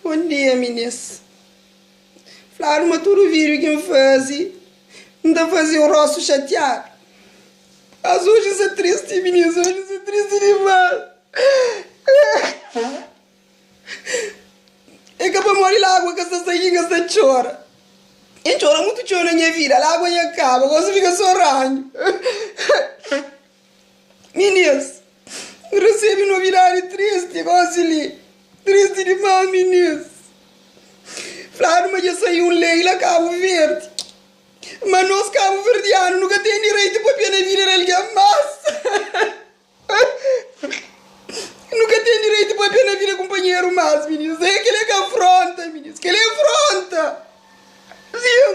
Bon dia minis. Fladu ma tudu vídiu ki N faze N ta faze un rostu xatiadu. Mas oji N sta tristi minis, oji N sta tristi dimás. É ka pamodi lágua ka sta saí ki N sta txora. N txora mutu txeu na nha vida, lágua nha kaba, gosi fika sô ranhu. Minês, N resebe novidadi tristi gósi li. Tristi dimás, minês. Fladu ma dja sai un lei la Kabu Verdi. Ma nos kabuverdianu nu ka ten direitu pa pena vida di algen más. Nu ka ten direitu pa pena vida di kunpanheru más, minês. He, kel-li é ka afronta, minês. Kel-li é afronta. Sin,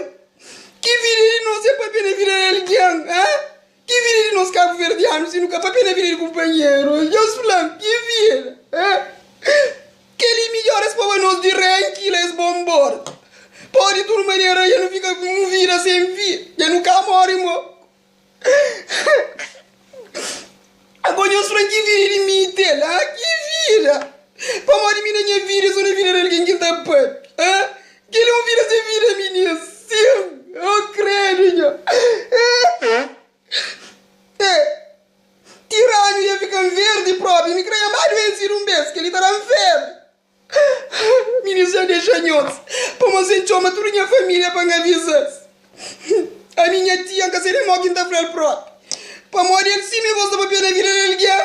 ki vida é di nos sen pa pena vida di algen? Ãh? Ki vida di nos kabuverdianu si nu ka papia na vida di kunpanheru? Djeus fla-m, ki vida? Kel-li midjór es poba nos di renki la es bo nbóra. Pô, di tudu manera, dja nu fika ku un vida sen fin, dja nu ka móre mo. Ago djeus fla-m, ki vida di mi i tel? Ki vida? Pamodi mi na nha vida i so na vida di algen ki N ta papia? Kel é un vida sen vida minha sim oh credo nha eh tiranhu ia fikan verdi propi mi krai amadu en si dun bes kel li ta dan febre minha sim dexa nhos pamo sen txoma tudu nha familia pa nha visas ami nha tia nka sede mo kin ta fral propi pamo del sim mi gosta papia na vida del gen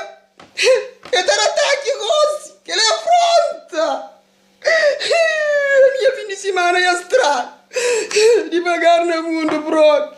eh eh ta da taki gosi kel é afronta. Nha fin di simana é stra devagar na mundu brother.